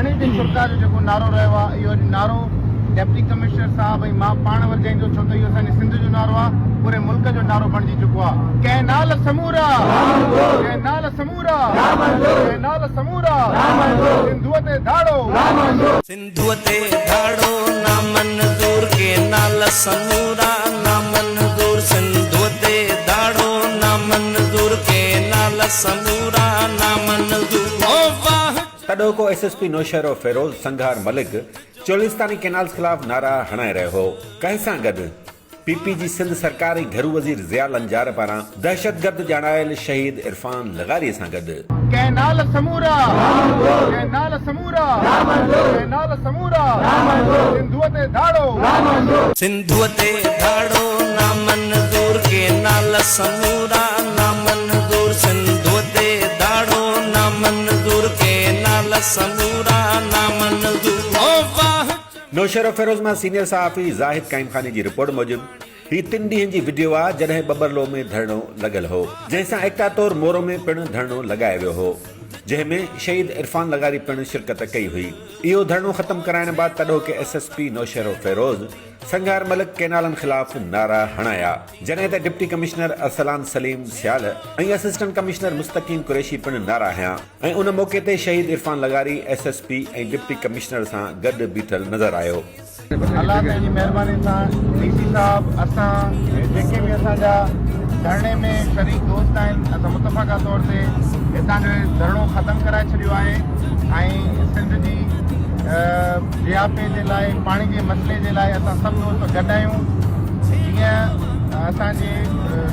ڌرڻي تي شرڪاء جو جيڪو نعرو رهيو آهي اهو اڄ نعرو ڊپٽي ڪمشنر صاحب ۽ مان پاڻ ورجائيندو ڇو ته اهو اسان جي سنڌ جو نعرو آهي پوري ملڪ جو نعرو بڻجي چڪو آهي ڪئنال سمورا ڪئنال سمورا ڪئنال سمورا سنڌوء تي ڌاڙو سنڌوء تي ڌاڙو نامنظور ڪئنال سمورا نامنظور سنڌوء تي ڌاڙو نامنظور ڪئنال سمورا نامنظور تڏهوڪو S S P Naushahro Feroze Singhar Malik چولستاني ڪينالز خلاف نعرا هڻائي رهيو هو. ڪنهن سان گڏ پي پي جي سنڌ سرڪار ۽ گهرو وزير ضياء لنجار پاران دهشتگرد ڄاڻايل شهيد عرفان لغاري سان گڏ. ڪينال سمورا ڪينال سمورا ڪينال سمورا سنڌوء تي ڌاڙو. سنڌوء تي ڌاڙو نامنظور ڪينال سمورا نامنظور. منظور سنڌوء تي داڙو نا منظور ڪي نال سمورا نا منظور او واھ چمي. نوشهروفيروز مان سينيئر صحافي زاهد قائم خاني جي رپورٽ موجب هي تن ڏينهن جي وڊيو آ جڏهن ٻٻرلو ۾ ڌرڻو لڳل هو جنهن سان ايڪتا طور مورو ۾ پڻ ڌرڻو لڳايو ويو هو جنهن ۾ شهيد عرفان لغاري پڻ شرڪت ڪئي هئي اهو ڌرڻو ختم ڪرائڻ بعد تڏهوڪي S S P Naushahro Feroze Singhar Malik ڪئنالن خلاف نعرا هڻايا جڏهن ته deputy commissioner Arsalan Saleem Sial ۽ assistant commissioner Mustaqeem Qureshi پڻ نعرا هنيا ۽ ان موقعي تي شهيد عرفان لغاري S S P ۽ deputy commissioner سان گڏ بيٺل نظر آيو. الله تعالي جي مهرباني سان ڊي سي صاحب اسان جيڪي به اسان جا ڌرڻي ۾ شريڪ دوست آهن اسان متفقه طور تي هتان جو هي ڌرڻو ختم ڪرائي ڇڏيو آهي ۽ سنڌ جي جياپي جي لاء پاڻي جي مسئلي جي لاء اسان سڀ دوست گڏ آهيون جيئن اسان جي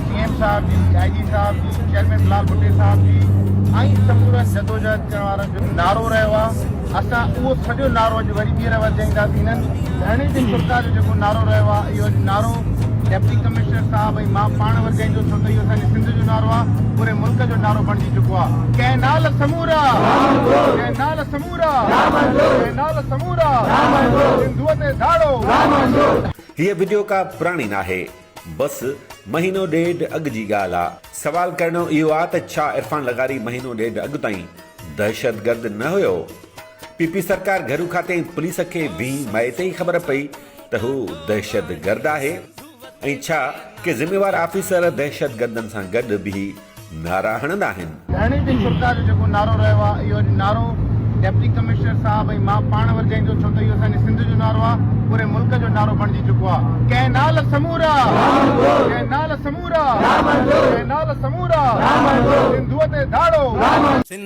سي ايم صاحب جي آئي جي صاحب جي چيئرمين بلال ڀٽي صاحب جي ۽ سمورن جدوجهد ڪرڻ وارن جو نعرو رهيو آهي اسان اهو سڄو نعرو اڄ وري ٻيهر ورجائينداسين هن ڌرڻي تي سرڪار جو جيڪو نعرو رهيو آهي اهو اڄ نعرو ڊپٽي ڪمشنر صاحب ۽ مان پاڻ ورجائيندو ڇو ته اهو اسان جي سنڌ جو نعرو آهي پوري ملڪ جو نعرو بڻجي چڪو آهي ڪئنال سمورا ڪئنال سمورا هيء وڊيو ڪا پراڻي ناهي بس مهينو ڏيڍ اڳ جي ڳالهه آ. سوال ڪرڻو اهو آ ته ڇا عرفان لغاري مهينو ڏيڍ اڳ تائين دهشتگرد نه هيو؟ پي پي سرڪار گهرو کاتي ۽ پوليس کي ويهين مئي تي ئي خبر پئي ته هو دهشتگرد آهي. ۽ ڇا ڪي ذميوار آفيسر دهشتگردن سان گڏ بيهي نعرا هڻندا آهن؟ ڌرڻي تي سرڪار جو جيڪو نعرو رهيو آهي اهو اڄ نعرو ڊپٽي ڪمشنر صاحب ۽ مان پاڻ ورجائيندو ڇو ته اهو اسان جي سنڌ جو نعرو آهي پوري ملڪ جو نعرو بڻجي چڪو آهي ڪنهن نال سمورا ڪنهن نال سمورا ڪنهن نال سمورا سنڌوء تي ڌاڙو.